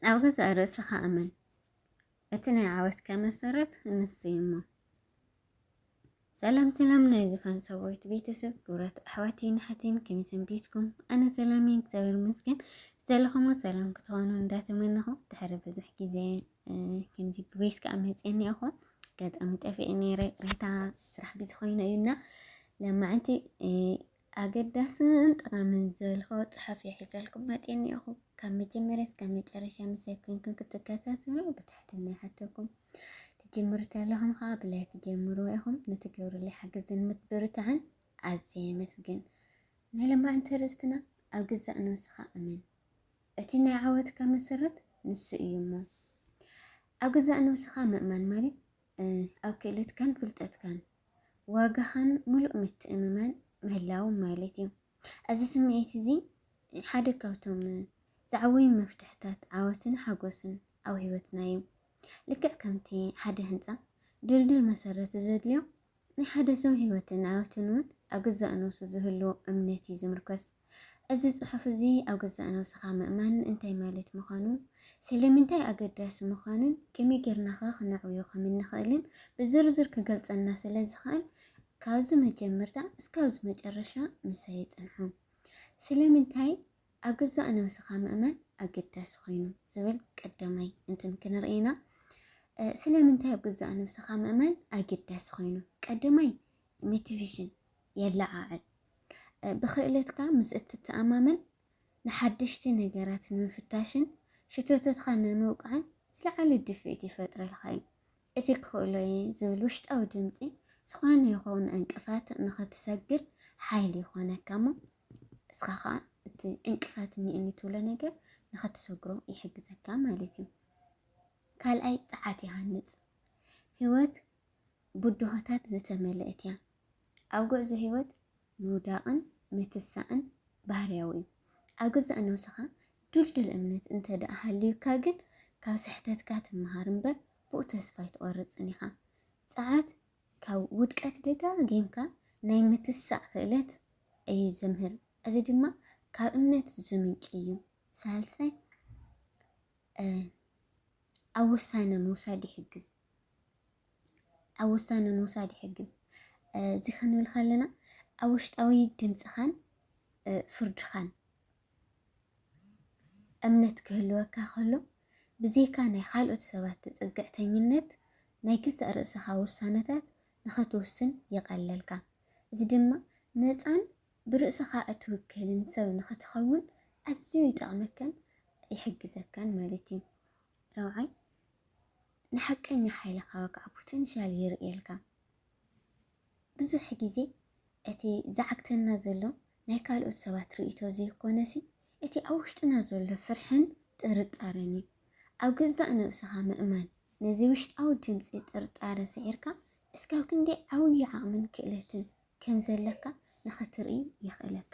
ኣብ ገዛእ ርእስኻ እመን። እቲ ናይ ዓወትካ መሰረት ንሱ እሞ ሰላም ሰላም ናይ ዝፋን ሰብዊት ቤተሰብ ክብረት ኣሕዋቴን ሓቴን ከመይ ሰንቢትኩም? ኣነ ሰላም እየ እግዚኣብሔር ይመስገን። ዘለኹሞ ሰላም ክትኾኑ እንዳተመነኹ ድሕሪ ብዙሕ ግዜ ከምዚ ብቤት ከዓ መፅየኒ እኹ ገጠሚ ጠፊኤ ነይረ ሪታ ስራሕ ግዜ ኮይኑ እዩና ለማዕንቲ ኣገዳስን ጠቓምን ዘልኮ ጽሑፍ ሒዘልኩም መጽየ እኒኦኹ። ካብ መጀመርያ እስካብ መጨረሻ ምሳይ ኮይንኩም ክትከታተሉ ብትሕትና ይሓተኩም። ትጅምሩ ተለኹም ከዓ ብላይክ ጀምርዎ ኢኹም። ንትገብሩለይ ሓገዝን ምትብርታዕን ኣዝየ የመስግን። ናይ ለማዕንቲ ርእስትና ኣብ ግዛእ ነብስኻ እመን። እቲ ናይ ዓወትካ መሰረት ንሱ እዩ እሞ ኣብ ግዛእ ነብስኻ ምእማን ማለት ኣብ ክእለትካን ፍልጠትካን ዋጋኻን ምሉእ ምትእምማን ምህላው ማለት እዩ። እዚ ስምዒት እዚ ሓደ ካብቶም ዝዓበዩ መፍትሕታት ዓወትን ሓጎስን ኣብ ህይወትና እዩ። ልክዕ ከምቲ ሓደ ህንፃ ድልድል መሰረት ዘድልዮ ናይ ሓደ ሰብ ህይወትን ዓወትን እውን ኣብ ገዛእ ነብሱ ዝህልዎ እምነት እዩ ዝምርኮስ። እዚ ጽሑፍ እዚ ኣብ ገዛእ ነብስኻ ምእማን እንታይ ማለት ምዃኑ፣ ስለምንታይ ኣገዳሲ ምዃኑን ከመይ ጌርና ኸ ክነዕብዮ ከም እንኽእልን ብዝርዝር ክገልጸልና ስለ ዝኽእል ካብዚ መጀመርታ እስካብዚ መጨረሻ ምሳይ ጽንሑ። ስለምንታይ ኣብ ገዛእ ነብስኻ ምእማን ኣገዳሲ ኮይኑ ዝብል ቀዳማይ እንትን ክንርኢ ኢና። ስለምንታይ ኣብ ገዛእ ነብስኻ ምእማን ኣገዳሲ ኮይኑ? ቀዳማይ ሞቲቬሽን የለዓዕል። ብክእለትካ ምስ እትተኣማመን ንሓደሽቲ ነገራት ንምፍታሽን ሽቶተትካ ንምውቃዕን ዝለዓለ ድፍኢት ይፈጥረልካ እዩ። እቲ ክኽእሎ እየ ዝብል ውሽጣዊ ድምፂ ዝኾነ ይኸውን ዕንቅፋት ንኽትሰግር ሓይሊ ይኾነካ እሞ እስኻ ከዓ እቲ ዕንቅፋት እኒእኒ ትብሎ ነገር ንኸትሰግሮ ይሕግዘካ ማለት እዩ። ካልኣይ ፀዓት ይሃንፅ። ህይወት ብድሆታት ዝተመልአት እያ። ኣብ ጉዕዞ ህይወት ምውዳቕን ምትሳእን ባህርያዊ እዩ። ኣብ ገዛእ ነብስኻ ድልዱል እምነት እንተ ደኣ ሃልዩካ ግን ካብ ስሕተትካ ትመሃር እምበር ብኡ ተስፋ ኣይትቆርፅን ኢኻ። ፀዓት ካብ ውድቀት ደጋጊምካ ናይ ምትሳእ ክእለት እዩ ዘምህር። እዚ ድማ ካብ እምነት ዝምንጭ እዩ። ሳልሳይ ኣብ ውሳነ ምውሳድ ይሕግዝ ኣብ ውሳነ ምውሳድ ይሕግዝ እዚ ክንብል ከለና ኣብ ውሽጣዊ ድምፅኻን ፍርድኻን እምነት ክህልወካ ከሎ፣ ብዘይካ ናይ ኻልኦት ሰባት ተጸግዕተኝነት፣ ናይ ገዛእ ርእሰኻ ውሳነታት ንኸትውስን ይቐለልካ። እዚ ድማ ነጻን ብርእሰኻ እትውከልን ሰብ ንኸትኸውን ኣዝዩ ይጠቕመካን ይሕግዘካን ማለት እዩ። ራብዓይ፣ ንሓቀኛ ሓይልኻ ወግዓዊ ፖተንሻል የርእየልካ። ብዙሕ ግዜ እቲ ዝዓግተና ዘሎ ናይ ካልኦት ሰባት ርእይቶ ዘይኮነሲ እቲ ኣብ ውሽጥና ዘሎ ፍርሕን ጥርጣረን እዩ። ኣብ ገዛእ ነብስኻ ምእማን፣ ነዚ ውሽጣዊ ድምጺ ጥርጣረ ስዒርካ እስካብ ክንደይ ዓብዩ ዓቕምን ክእለትን ከም ዘለካ ንኽትርኢ የኽእለካ።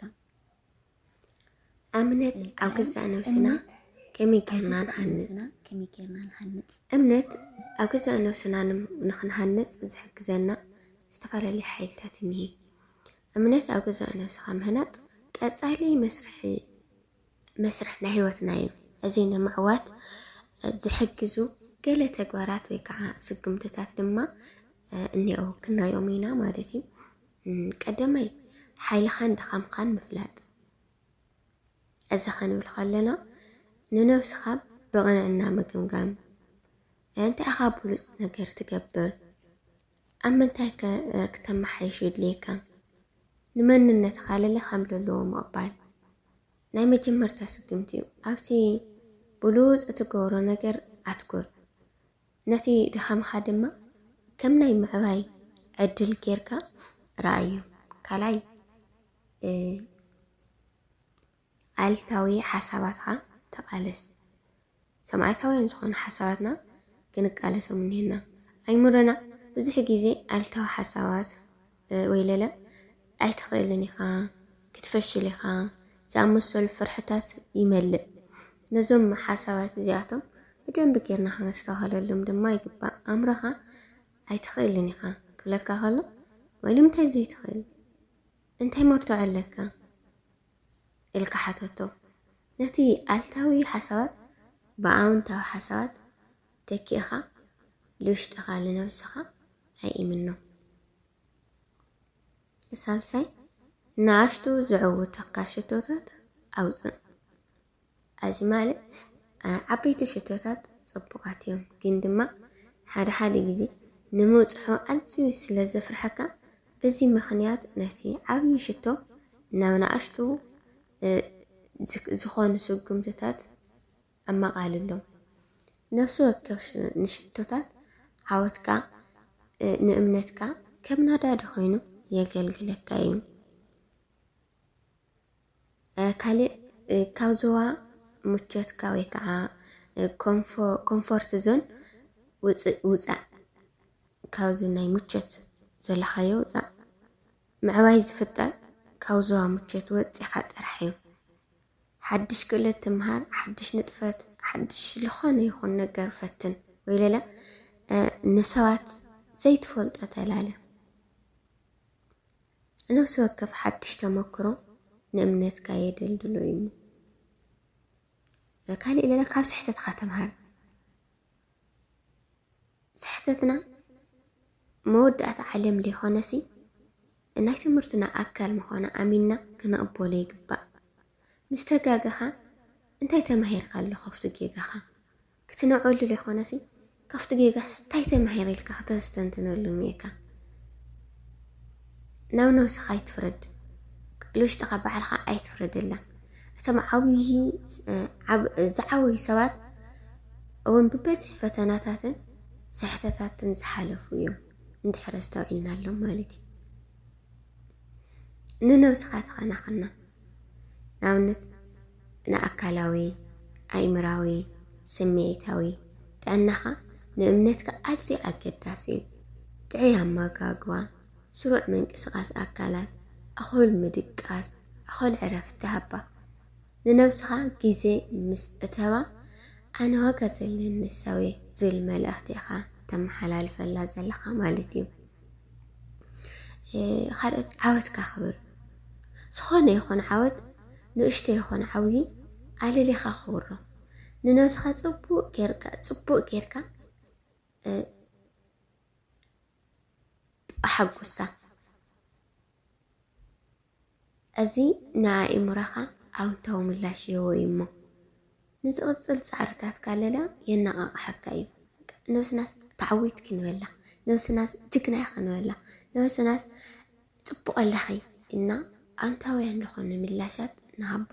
እምነት ኣብ ገዛእ ነብስና ከመይ ጌርና ንሃንጽ? እምነት ኣብ ገዛእ ነብስና ንኽንሃንጽ ዝሕግዘና ዝተፈላለዩ ሓይልታት እኒሀ። እምነት ኣብ ገዛእ ነብስኻ ምህናጽ ቀጻሊ መስርሒ መስርሕ ናይ ህይወትና እዩ። እዚ ንምዕዋት ዝሕግዙ ገለ ተግባራት ወይ ከዓ ስጉምትታት ድማ እኒኦ ክናዮም ኢና ማለት እዩ። ቀዳማይ ሓይልኻን ድኻምኻን ምፍላጥ። እዚ ከንብል ከለና ንነብስኻ ብቕንዕና ምግምጋም፣ እንታይ ኢኻ ብሉፅ ነገር ትገብር፣ ኣብ ምንታይ ከ ክተመሓይሽ የድልየካ? ንመንነትካ ልለ ከም ለለዎ ምቕባል ናይ መጀመርታ ስጉምቲ እዩ። ኣብቲ ብሉጽ እትገብሮ ነገር ኣትኩር። ነቲ ድኻምካ ድማ ከም ናይ ምዕባይ ዕድል ጌርካ ረኣዮ። ካልኣይ ኣሉታዊ ሓሳባትካ ተቓለስ። ሰማዕታውያን ዝኾኑ ሓሳባትና ክንቃለሶም እኒሀና። ኣይምሮና ብዙሕ ግዜ ኣሉታዊ ሓሳባት ወይለለ ኣይትኽእልን ኢኻ፣ ክትፈሽል ኢኻ ዝኣመሰሉ ፍርሕታት ይመልእ። ነዞም ሓሳባት እዚኣቶም ብደንቢ ጌርና ክነስተውሃለሎም ድማ ይግባእ። ኣእምሮኻ ኣይትኽእልን ኢኻ ክብለካ ከሎ ወይ ንምንታይ ዘይትኽእል እንታይ መርትዖ ኣለካ? ኢልካ ሓተቶ። ነቲ ኣልታዊ ሓሳባት ብኣውንታዊ ሓሳባት ተኪእኻ ልውሽጥኻ ልነብስኻ ኣይእምኖ። ሳልሳይ፣ ንኣሽቱ ዝዕውቱካ ሽቶታት ኣውጽእ። ኣዚ ማለት ዓበይቲ ሽቶታት ጽቡቓት እዮም ግን ድማ ሓደ ሓደ ግዜ ንምብጽሖ ኣዝዩ ስለ ዘፍርሓካ በዚ ምኽንያት ነቲ ዓብዪ ሽቶ ናብ ንኣሽቱ ዝኾኑ ስጉምትታት ኣመቓልሎም። ነፍሲ ወከፍ ንሽቶታት ዓወትካ ንእምነትካ ከም ናዳዲ ኮይኑ የገልግለካ እዩ። ካልእ ካብ ዞባ ምቾትካ ወይ ከዓ ኮምፎርት ዞን ውፅእ ውፃእ ካብዚ ናይ ምቾት ዘለኻዮ ውፃእ ምዕባይ ዝፍጠር ካብ ዞባ ምቾት ወፂኻ ጥራሕ እዩ ሓድሽ ክእለት ትምሃር ሓድሽ ንጥፈት ሓድሽ ዝኾነ ይኹን ነገር ፈትን ወይ ለለ ንሰባት ዘይትፈልጦ ተላለ ነፍሲ ወከፍ ሓድሽ ተመክሮ ንእምነትካ የደልድሎ እዩ እሞ ካልእ ለለ ካብ ስሕተትካ ተምሃር። ስሕተትና መወዳእታ ዓለም ዘይኮነሲ ናይ ትምህርትና ኣካል ምዃኑ ኣሚንና ክንቕበሎ ይግባእ። ምስ ተጋገኻ እንታይ ተማሂርካሉ ካብቱ ጌጋኻ? ክትንዕወሉ ዘይኮነሲ ካብቲ ጌጋስ እንታይ ተማሂረ ኢልካ ከተስተንትነሉ እኒኤካ። ናብ ነብስኻ ኣይትፍረድ፣ ቃል ውሽጥኻ ባዕልኻ ኣይትፍረደላ። እቶም ዓብዪ ዝዓበዩ ሰባት እውን ብበዝሒ ፈተናታትን ስሕተታትን ዝሓለፉ እዮም እንድሕር ኣስተውዒልናሎም ማለት እዩ። ንነብስኻ ተኸናኸና ንኣብነት ንኣካላዊ ኣእምራዊ ስምዒታዊ ጥዕናኻ ንእምነትካ ኣዝዩ ኣገዳሲ እዩ ጥዑይ ኣመጋግባ ስሩዕ ምንቅስቓስ ኣካላት ኣኹል ምድቃስ ኣኹል ዕረፍቲ ሃባ ንነብስኻ ግዜ ምስ እተባ ኣነ ዋጋ ዘለኒ ሰብ እየ ዝብል መልእኽቲ ኢኻ ተመሓላልፈላ ዘለኻ ማለት እዩ ካልኦት ዓወትካ ክብር ዝኾነ ይኹን ዓወት ንእሽቶ ይኹን ዓብዪ ኣለሊኻ ክብሮ ንነብስኻ ፅቡቅ ጌርካ ፅቡቅ ጌርካ ኣሓጉሳ እዚ ንኣእምሮኻ ኣውንታዊ ምላሽ ይህቦ እዩ እሞ፣ ንዝቕጽል ጻዕርታትካ ለለ የነቓቕሓካ እዩ። ነብስናስ ተዓዊትኪ ንበላ፣ ነብስናስ ጅግና ኢኺ ንበላ፣ ነብስናስ ጽቡቕ ኣለኺ እና ኣውንታውያን ዝኾኑ ምላሻት ንሃባ።